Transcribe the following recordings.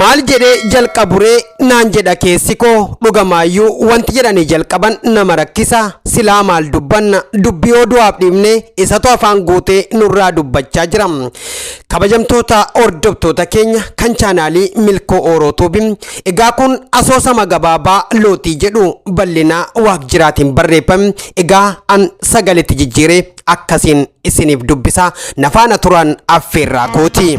maal jedhee jalqaburee naan jedha keessi koo dhugamaayyuu wanti jedhanii jalqaban nama rakkisa silaa maal dubbanna dubbii oduwaaf dhiibne isatu afaan guutee nurraa dubbachaa jira Kabajamtoota hordoftoota keenya kan chaanaalii Milkoo Ooroo Tuubi, egaa kun asoosama gabaabaa Looxii jedhu bal'inaa waaq jiraatiin barreeffame, egaa an sagaletti jijjiiree akkasiin isiniif dubbisa, na faana turaan affeerraa kooti.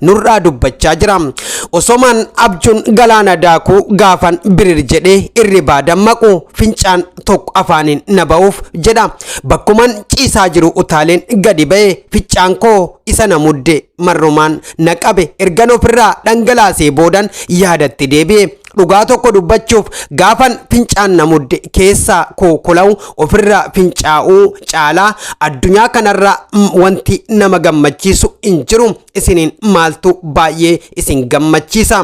nurraa dubbachaa jira. Osomaan abjuun galaana daakuu gaafan birir jedhee irribaa dammaqu fincaan tokko afaaniin na ba'uuf jedha. Bakkuman ciisaa jiru utaaleen gadi ba'e ficcaan koo isa na mudde marrumaan na qabe ergan ofirraa dhangalaasee boodan yaadatti deebi'e. Dhugaa tokko dubbachuuf gaafan fincaan na mudde keessaa koo kola'u ofirraa fincaa'uu caalaa addunyaa kanarraa mm, wanti nama gammachiisu hin jiru isiniin maaltu baay'ee isin gammachiisa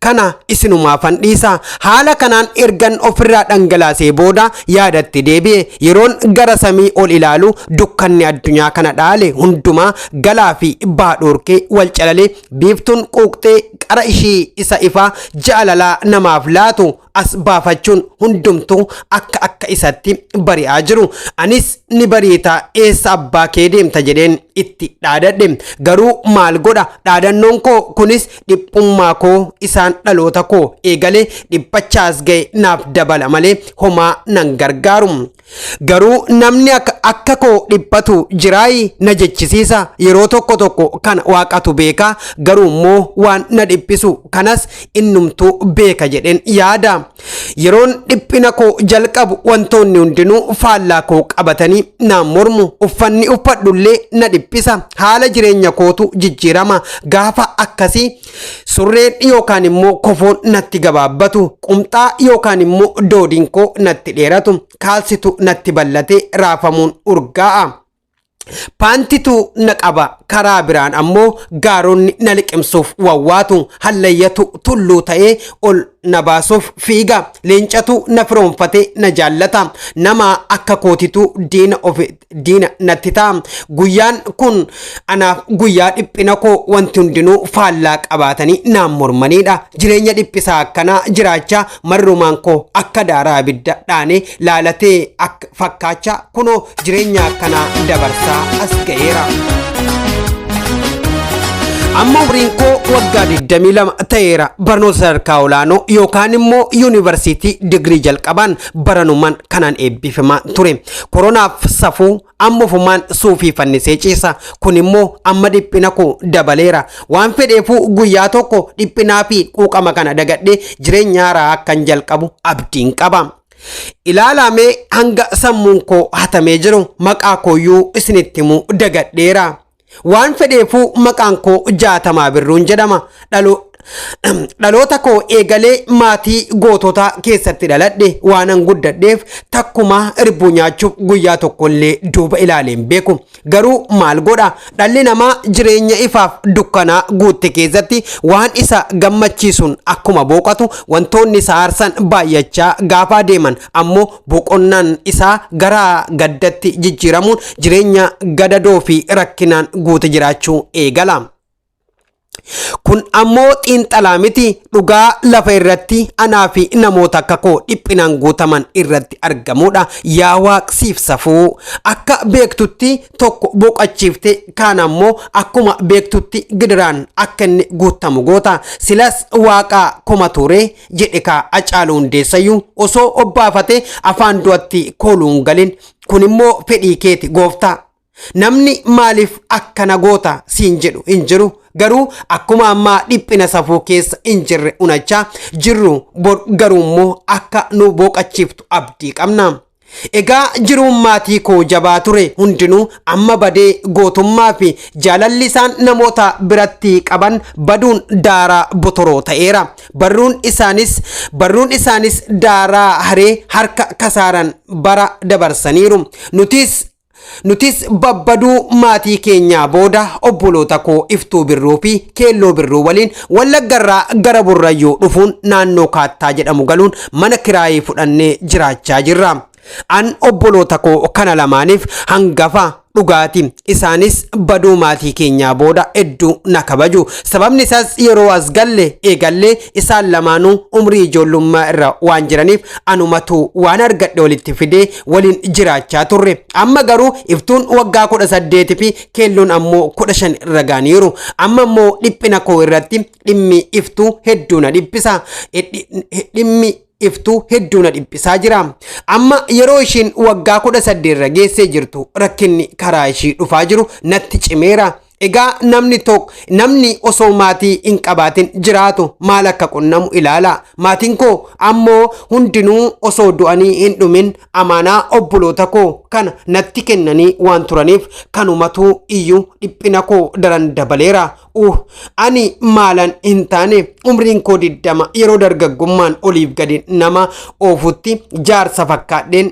kana isinumaafan dhiisa haala kanaan ergan ofirraa dhangalaasee booda yaadatti deebi'e yeroon gara samii ol ilaalu dukkanni addunyaa kana dhaale hundumaa galaa fi baadhoorkee wal calalee Biiftuun quuqxee qara ishii isa ifaa jaalalaa namaaf laatu as baafachuun hundumtuu akka akka isatti bari'aa jiru. Anis ni bariita eessa abbaa kee deemta jedheen itti dhaadadhe. Garuu maal godha dhaadannoon koo kunis dhiphummaa koo isaan dhaloota koo eegalee dhiphachaas ga'e naaf dabala malee homaa nan gargaaru. Garuu namni akka akka koo dhiphatu jiraayi na jechisiisa yeroo tokko tokko kana waaqatu beeka garuu immoo waan na dhiphisu kanas innumtuu beeka jedheen yaada yeroon dhiphina koo jalqabu wantoonni hundinuu faallaa koo qabatanii naan mormu uffanni uffadhullee na dhiphisa haala jireenya kootu jijjiirama gaafa akkasii Surreen yookaan immoo kofoon natti gabaabbatu, qumxaa yookaan immoo doodiin koo natti dheeratu, kaalsitu natti bal'ate raafamuun urgaa'a. Paantitu na qaba karaa biraan ammoo gaaronni na liqimsuuf wawwaatu hallayyatu tulluu ta'ee ol na baasuuf fiiga leencatu na firoonfatee na jaallata nama akka kootitu diina ofi diina natti ta'a. Guyyaan kun anaaf guyyaa dhiphina koo wanti hundinuu faallaa qabaatanii naan mormaniidha. Jireenya dhiphisaa akkanaa jiraachaa marrumaan koo akka daaraa abidda dhaanee laalatee akka fakkaachaa kunoo jireenya akkanaa dabarsaa as ga'eera. Amma umriin koo waggaa 22 ta'eera barnoota sadarkaa olaanoo yookaan immoo yuunivarsiitii digirii jalqabaan baranumaan kanaan eebbifamaa ture. Koronaaf safuu amma ofumaan suufii fannisee ciisa. Kun immoo amma dhiphina koo dabaleera. Waan fedheefuu guyyaa tokko dhiphinaa fi quuqama kana dagadhee jireenya haaraa akkan jalqabu abdiin qaba. Ilaalaamee hanga sammuun koo hatamee jiru maqaa kooyyuu isinitti himuu dagadheera. Waan fedheefuu maqaan koo Jaatamaa Birruun jedhama. Dhaloo Dhaloota koo eegalee maatii goototaa keessatti dhaladhe waanan guddadheef takkumaa irbuu nyaachuuf guyyaa tokkollee duuba ilaalee hin beeku. Garuu maal godha dhalli namaa jireenya ifaaf dukkanaa guutte keessatti waan isa gammachiisuun akkuma booqatu wantoonni isa aarsan baay'achaa gaafa adeeman ammoo boqonnaan isaa gara gaddatti jijjiiramuun jireenya gadadoo fi rakkinaan guute jiraachuu eegala. Kun ammoo xiinxalaa miti dhugaa lafa irratti anaa fi namoota akka koo dhiphinaan guutaman irratti argamudha. Yaa waaqsiif safuu akka beektutti tokko boqachiifte kaan ammoo akkuma beektutti gidiraan akka inni guutamu goota. Silas waaqaa koma ture jedhe kaa Hacaaluu Hundeessayyuu osoo obbaafatee afaan du'atti kooluun galin kun immoo fedhii keeti gooftaa namni maaliif akkana goota siin jedhu hin jiru garuu akkuma ammaa dhiphina safuu keessa hin jirre unachaa jirru bor garuu immoo akka nu booqachiiftu abdii qabna. Egaa jiruun maatii koo jabaa ture hundinuu amma badee gootummaa fi jaalalli isaan namoota biratti qaban baduun daaraa botoroo ta'eera. Barruun isaanis barruun isaanis daaraa haree harka kasaaran bara dabarsaniiru. Nutis Nutis babbaduu maatii keenyaa booda obboloota koo Iftuu Birruu fi Keelloo Birruu waliin Wallaggarraa gara Burrayyuu dhufuun naannoo Kaattaa jedhamu galuun mana kiraayii fudhannee jiraachaa jirra. An obboloota koo kana lamaaniif hangafa dhugaati. Isaanis baduu maatii keenyaa booda hedduu na kabaju. Sababni isaas yeroo as galle eegallee isaan lamaanuu umrii ijoollummaa irra waan jiraniif anumatu waan argadhe walitti fidee waliin jiraachaa turre amma garuu iftuun waggaa kudha saddeeti fi keelloon ammoo kudha shan irra gaaniiru amma immoo dhiphina koo irratti dhimmi iftuu hedduu na dhiphisa dhimmi iftuu hedduu na dhiphisaa jira amma yeroo ishiin waggaa kudha saddeet irra geessee jirtu rakkinni karaa ishii dhufaa jiru natti cimeera Egaa namni tokko namni osoo maatii hin qabaatin jiraatu maal akka qunnamu ilaala. Maatiin koo ammoo hundinuu osoo du'anii hin dhumin amaanaa obboloota koo kana natti kennanii waan turaniif kanumatuu iyyuu dhiphina koo daran dabaleera. Uh, ani maalan hin taane umriin koo diddama yeroo dargaggummaan oliif gadi nama oofutti jaarsa fakkaadheen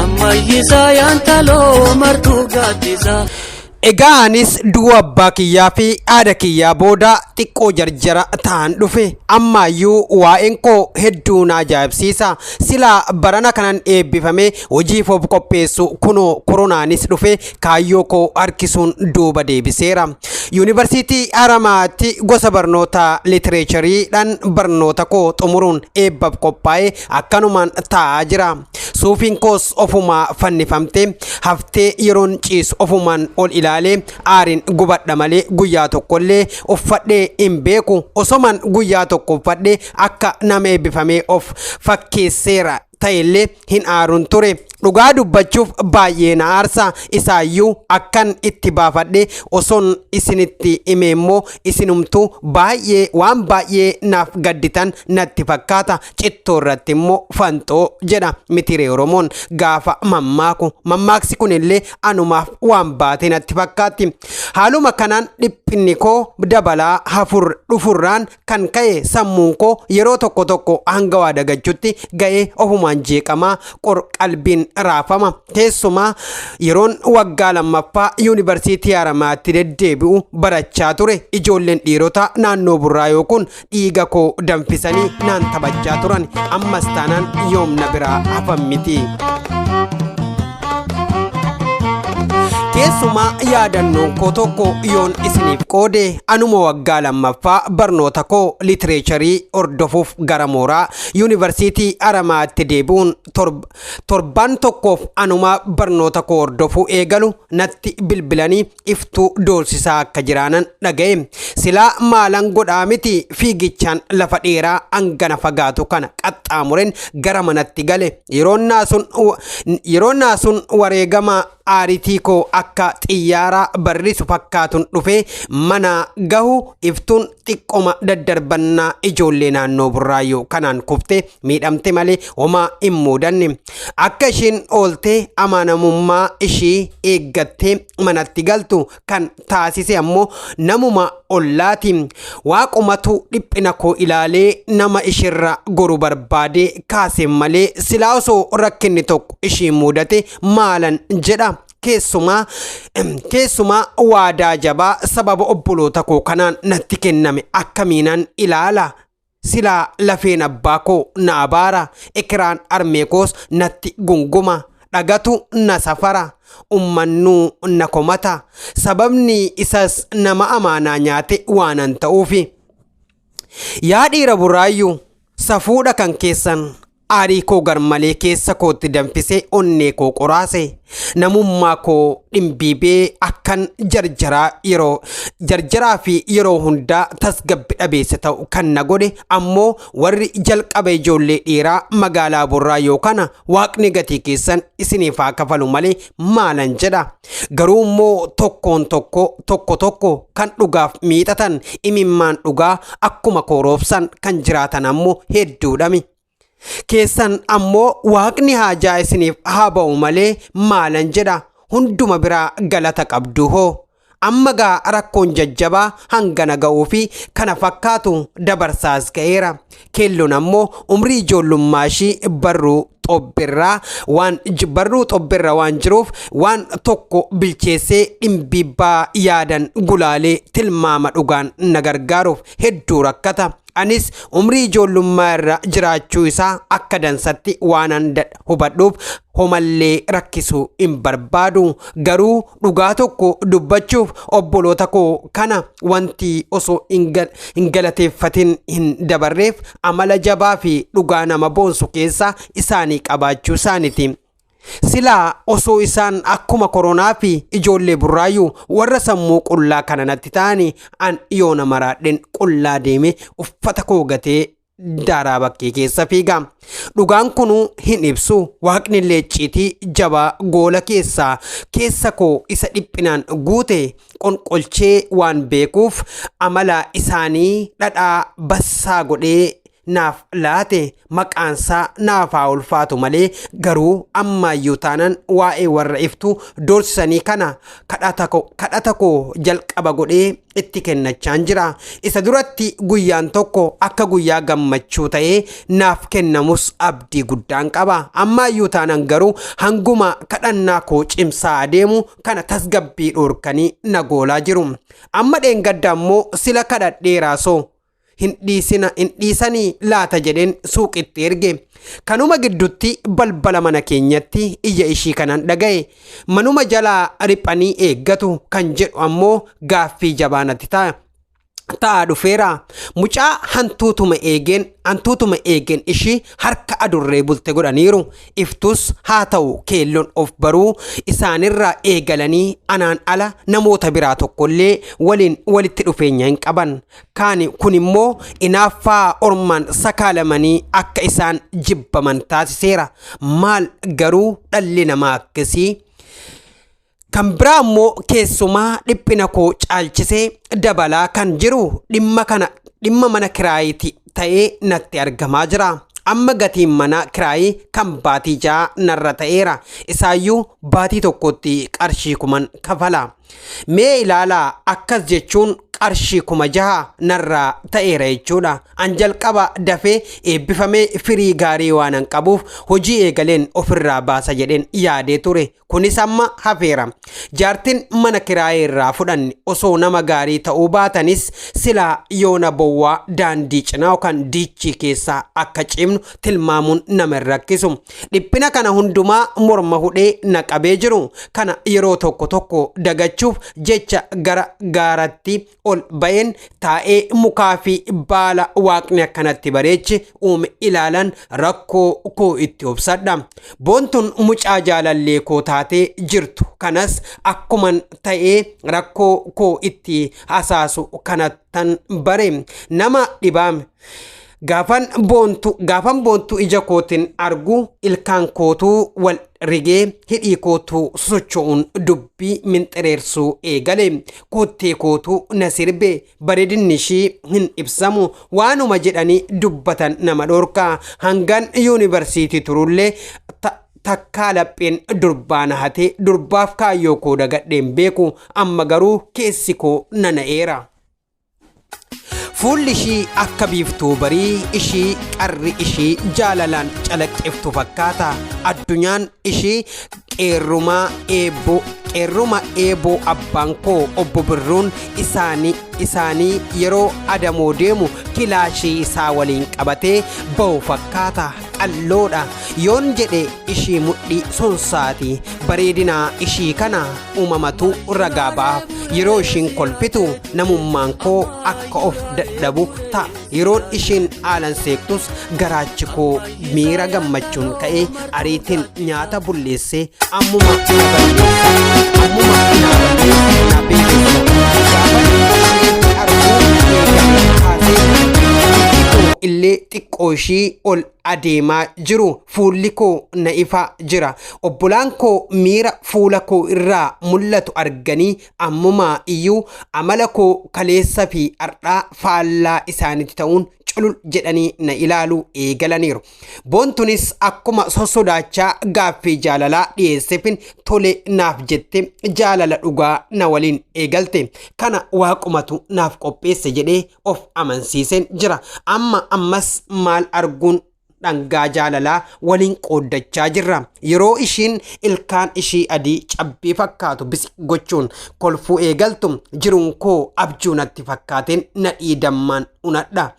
Ammayyisaa yaantaloo martuu gaaddisaa. Egaa anis du'a abbaa kiyyaa fi haadha kiyyaa booda xiqqoo jarjara ta'an dhufe. Ammaayyuu waa'een koo hedduu na ajaa'ibsiisa. Silaa barana kanan eebbifame hojiif of qopheessu kunoo koronaanis dhufe kaayyoo koo harkisuun duuba deebiseera. Yuunivarsiitii Haramaatti gosa barnoota litireechariidhaan barnoota koo xumuruun eebbaf qophaa'ee akkanumaan taa'aa jira. Suufiin koos ofumaa fannifamtee haftee yeroon ciisu ofumaan ol ilaalee aariin gubadha malee guyyaa tokkollee uffadhee hin beeku. Osomaan guyyaa tokko uffadhee akka nama eebbifamee of fakkeesseera ta'ellee hin aaruun ture. Dhugaa dubbachuuf baay'ee na aarsa isaayyuu akkan itti baafadhee osoon isinitti hime immoo isinumtuu baay'ee waan baay'ee naaf gadditan natti fakkaata. cittoo irratti immoo fanxoo jedha mitiree oromoon gaafa mammaaku mammaaksi kun illee anumaaf waan baatee natti fakkaatti haaluma kanaan dhiphinni koo dabalaa hafur dhufurraan kan ka'e sammuun koo yeroo tokko tokko hanga waa dagachutti ga'ee ofumaan jeeqamaa qor qalbiin raafama keessumaa yeroon waggaa lammaffaa yuunivarsiitii haramaatti deddeebi'u barachaa ture ijoolleen dhiirotaa naannoo burraayoo kun dhiiga koo danfisanii naan taphachaa turan ammas taanaan yoom na biraa hafan miti. Keessumaa yaadannoon koo tokko yoon isiniif qoode anuma waggaa lammaffaa barnoota koo litireecharii hordofuuf gara mooraa yuunivarsiitii Aramaatti deebi'uun torb- torbaan tokkoof anuma barnoota koo hordofuu eegalu natti bilbilanii iftuu doorsisaa akka jiraanan dhaga'e silaa maalan godhaa miti fiigichaan lafa dheeraa hangana fagaatu kana qaxxaamuren gara manatti gale yeroon naasuun yeroon naasuun wareegama aaritii koo akka xiyyaaraa barrisu fakkaatun dhufee manaa gahu iftuun xiqqoma daddarbannaa ijoollee naannoo burraayyuu kanaan kufte miidhamte malee homaa hin muudanne akka isheen oolte amanamummaa ishii eeggattee manatti galtu kan taasise ammoo namuma ollaati waaqumatu dhiphina koo ilaalee nama ishirra goru barbaade kaase malee silaa osoo rakkinni tokko ishii muudate maalan jedha keessumaa keessumaa waadaa jabaa sababa obboloota koo kanaan natti kenname akkamiinan ilaala silaa lafeen abbaa koo na abaara ekiraan armee koos natti gunguma dhagatu na safara ummannuu na komata sababni isas nama amaanaa nyaate waanan ta'uufi Yaa dhiira buraayyuu safuudha kan keessan aarii koo garmalee keessa kootti danfisee onnee koo qoraase namummaa koo dhimbiibee akkan jarjaraa yeroo jarjaraa fi yeroo hundaa tasgabbi dhabeessa ta'u kan na godhe ammoo warri jalqaba ijoollee dhiiraa magaalaa burraa yoo kana waaqni gatii keessan isiniif haa kafalu malee maalan jedha garuu immoo tokkoon tokko tokko tokko kan dhugaaf miixatan imimmaan dhugaa akkuma kooroobsan kan jiraatan ammoo hedduudhami keessan ammoo waaqni haajaa isiniif haa ba'u malee maalan jedha hunduma biraa galata qabdu hoo Amma gaa rakkoon jajjabaa hangana ga'uu fi kana fakkaatu dabarsaas ga'eera. Keelloon ammoo umrii ijoollummaa ishii barruu xobbirraa waan j- barruu xobbirra waan jiruuf waan tokko bilcheessee dhimbiibbaa yaadan gulaalee tilmaama dhugaan na gargaaruuf hedduu rakkata. Anis umrii ijoollummaa irra jiraachuu isaa akka dansatti waanan hubadhuuf homallee rakkisuu hin barbaadu. Garuu dhugaa tokko dubbachuuf obboloota koo kana wanti osoo hin galateeffatin hin dabarreef amala jabaa fi dhugaa nama boonsu keessaa isaanii qabaachuu isaaniti. Silaa osoo isaan akkuma koronaa fi ijoollee burraayyuu warra sammuu qullaa kana natti ta'ani an yoona maraadhen qullaa deeme uffata koo gatee daaraa bakkee keessa fiiga. Dhugaan kunuu hin ibsu waaqnillee icciitii jabaa goola keessaa keessa koo isa dhiphinaan guute qonqolchee waan beekuuf amala isaanii dhadhaa bassaa godhee naaf laate maqaansaa naaf haa ulfaatu malee garuu ammaayyuu taanan waa'ee warra iftuu doorsisanii kana kadhata ko- kadhata koo jalqaba godhee itti kennachaan jira isa duratti guyyaan tokko akka guyyaa gammachuu ta'ee naaf kennamus abdii guddaan qaba ammaayyuu taanan garuu hanguma kadhannaa koo cimsaa adeemu kana tasgabbii dhoorkanii na goolaa jiru amma dheengadda ammoo sila kadhadheeraa soo hin dhiisina hin dhiisanii laata jedheen suuqitti erge kanuma giddutti balbala mana keenyatti iyya ishii kanan dhaga'e manuma jalaa riphanii eeggatu kan jedhu ammoo gaaffii jabaa natti ta'a. ta'aa dhufeera mucaa hantuutuma eegeen hantuutuma eegeen ishii harka adurree bulte godhaniiru iftus haa ta'u keelloon of baruu isaanirraa eegalanii anaan ala namoota biraa tokkollee waliin walitti dhufeenya hin qaban Kaani kun immoo inaaffaa ormaan sakaalamanii akka isaan jibbaman taasiseera. Maal garuu dhalli namaa akkasii? Kan biraa immoo keessumaa dhiphina koo caalchisee dabalaa kan jiru dhimma kana dhimma mana kiraayiti ta'ee natti argamaa jira. Amma gatiin mana kiraayii kan baatii ja'a narra ta'eera. Isaayyuu baatii tokkotti qarshii kuman kafala. Mee ilaalaa akkas jechuun qarshii kuma jaha narraa ta'eera jechuudha. An jalqaba dafee eebbifamee firii gaarii waanan qabuuf hojii eegaleen ofirraa baasa jedheen yaadee ture. Kunis amma hafeera. Jaartin mana kiraayee irraa fudhanne osoo nama gaarii ta'uu baatanis silaa yoona bowwaa daandii cinaa yookaan diichii keessa akka ciimnu tilmaamuun nama hin rakkisu. Dhiphina kana hundumaa morma hudhee na qabee jiru kana yeroo tokko tokko dagachuuf jecha gara gaaratti ol ba'een taa'ee mukaa fi baala waaqni akkanatti bareeche uume ilaalan rakkoo koo itti obsadha. Boontun mucaa jaalallee koo taatee jirtu kanas akkuman ta'ee rakkoo koo itti hasaasu kanattan bare nama dhibaame. Gaafan boontu gaafan boontu ija kootiin argu ilkaan kootuu wal rigee hidhii kootuu sosocho'uun dubbii minxireersuu eegale koottee kootuu na sirbe bareedinni ishii hin ibsamu waanuma jedhanii dubbatan nama dhorka hangan yuunivarsiitii turullee ta- takkaa lapheen durbaa na hatee durbaaf kaayyoo koo dagadheen beeku amma garuu keessi koo nana'eera. Fuulli ishii akka biiftuu barii ishii qarri ishii jaalalaan calaqqiftu fakkaata. Addunyaan ishii qeerrumaa eeboo qeerruma eeboo abbaan koo obbo Birruun isaanii isaanii yeroo adamoo deemu kilaashii isaa waliin qabatee ba'u fakkaata. qalloodha yoon jedhe ishii mudhii sonsaati bareedina ishii kana uumamatu ragaa ba'aaf yeroo ishiin kolfitu namummaan koo akka of dadhabu ta'a yeroon ishiin haalan seektus garaachi koo miira gammachuun ka'ee ariitiin nyaata bulleesse ammuma na balleessa ammuma na balleessa na beeksisa gaafa ishee arguu eegale kaasee illee xiqqoo ishii ol adeemaa jiru fuulli koo na ifaa jira obbolaan koo miira fuula koo irraa mul'atu arganii ammumaa iyyuu amala koo kaleessa fi har'aa faallaa isaanitti ta'uun culul jedhanii na ilaaluu eegalaniiru boontunis akkuma sossodaachaa gaaffii jaalalaa dhiyeessefin tole naaf jette jaalala dhugaa na waliin eegalte kana waaqumatu naaf qopheesse jedhee of amansiiseen jira. Amma ammas maal arguun dhangaa jaalalaa waliin qooddachaa jirra. Yeroo ishiin ilkaan ishii adii cabbii fakkaatu bisi gochuun kolfuu eegaltu jiruun koo abjuu natti fakkaateen nadhii dammaan unadha.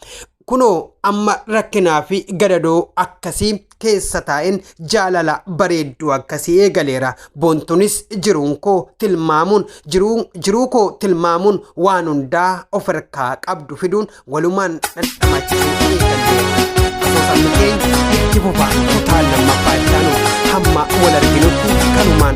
Kunoo amma rakkinaa fi gadadoo akkasii keessa taa'een jaalala bareedduu akkasii eegaleera. Boontunis jiruun koo tilmaamuun jiruu, jiruu koo tilmaamuun waan hundaa of harkaa qabdu fiduun walumaan dhandhamachuu eegalleera. Asoosamni keenya itti fufa kutaa lammaffaa ittaanu hamma wal arginutti kanumaan